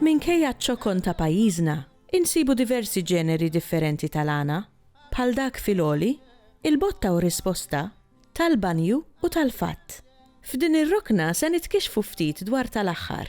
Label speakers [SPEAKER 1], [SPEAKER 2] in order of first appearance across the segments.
[SPEAKER 1] Minkejja ċ-ċokon ta' pajjiżna, insibu diversi ġeneri differenti tal-għana, bħal dak fil-għoli, il-botta u risposta, tal-banju u tal-fatt. F'din ir-rokna se nitkixxfu ftit dwar tal-aħħar.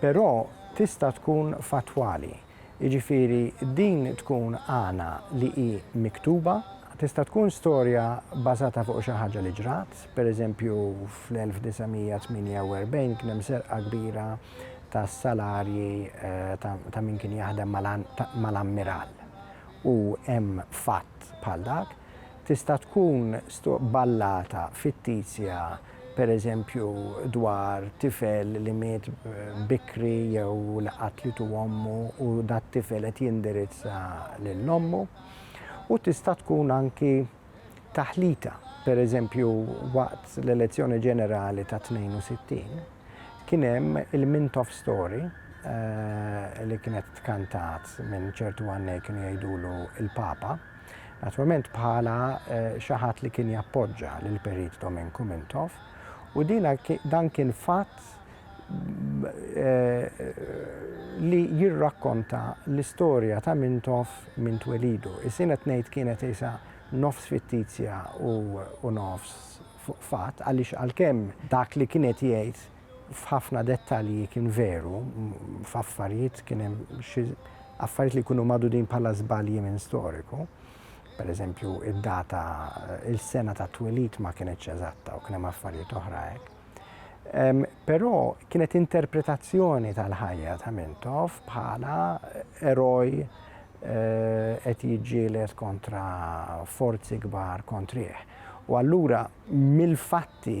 [SPEAKER 2] Però tista' tkun fattwali, jiġifieri din tkun għana li hi miktuba, tista' tkun storja bbażata fuq xi ħaġa li ġrat, pereżempju fl-1948 kien hemm serqa kbira tas-salarji ta' min kien jaħdem mal-ammiral u hemm fatt bħal dak, tista' tkun ballata fittizja, pereżempju dwar tifel li miet bikri jew li qatlitu ommu u dat-tifel qed jindirizza lil ommu, u tista' tkun anki taħlita. Pereżempju, waqt l-elezzjoni ġenerali tat-62, kien hemm il-Mint of Story li kienet tkantat minn ċertu għannej kienu jgħidulu l-Papa, Naturalment bħala xi ħadd li kien jappoġġa lil Perit Dominku Mintoff u dina dan kien fatt li jirrakkonta l-istorja ta' Mintoff minn twelidu. Is-sin qed ngħid kienet isa nofs fittizja u nofs fatt għaliex għalkemm dak li kien qed jgħid f'ħafna dettalji kien veru, f'affarijiet kien hemm xi affarijiet li jkunu magħdudin bħala żbalji minn storiku. Pereżempju, id-data, il-sena ta' twelid ma kienetx eżatta u kien hemm affarijiet oħra hekk. Però kienet interpretazzjoni tal-ħajja ta' Mintoff bħala eroj eh, qed jiġġieled kontra forzi kbar kontrih. U allura mill-fatti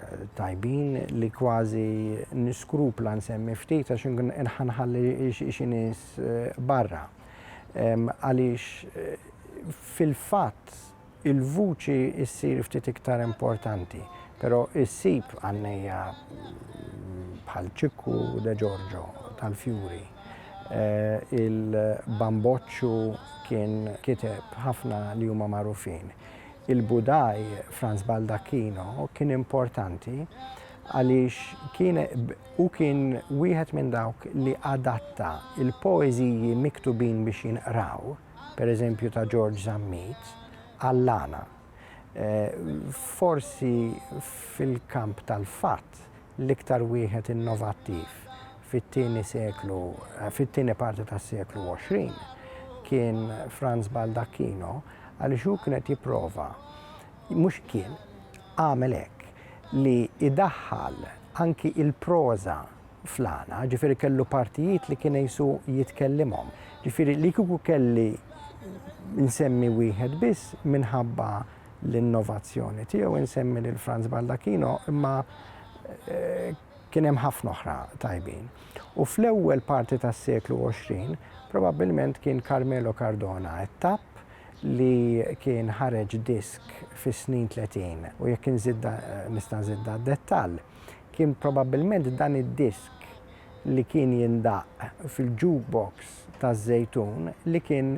[SPEAKER 2] tajbin li kważi niskrupla nsemmi ftit għax inkun ħa nħalli xi nies barra. Għaliex fil-fatt il-vuċi ssir ftit iktar importanti, però issib għannejja bħal Ċikku De Giorgio tal-Fjuri Eh, il-Bamboċċu kien kiteb ħafna li huma magħrufin. Il-Budaj Franz Baldacchino kien importanti għaliex kien hu kien wieħed minn dawk li adatta l-poeżiji miktubin biex jinqraw, pereżempju ta' Ġorġ Zammit, għall-għana. Forsi fil-kamp tal-fatt l-iktar wieħed innovattiv fit-tieni seklu, fit-tieni parti tas-seklu 20 kien Franz Baldacchino għaliex hu kien qed jipprova mhux kien għamel hekk li idaħħal anki il-proża flana, ġifiri kellu partijiet li kien jisu jitkellimhom. Ġifiri li kuku kelli nsemmi wieħed biss minħabba l-innovazzjoni tiegħu insemmi lil Franz Baldacchino imma kien hemm ħafna oħra tajbin. U fl-ewwel parti tas-seklu 20 probabbilment kien Carmelo Cardona t-tapp li kien ħareġ disk fis-snin 30 u jekk inżidda nista' nżidda dettall kien probabbilment dan id-disk li kien jindaqq fil-jukebox taż-Żejtun li kien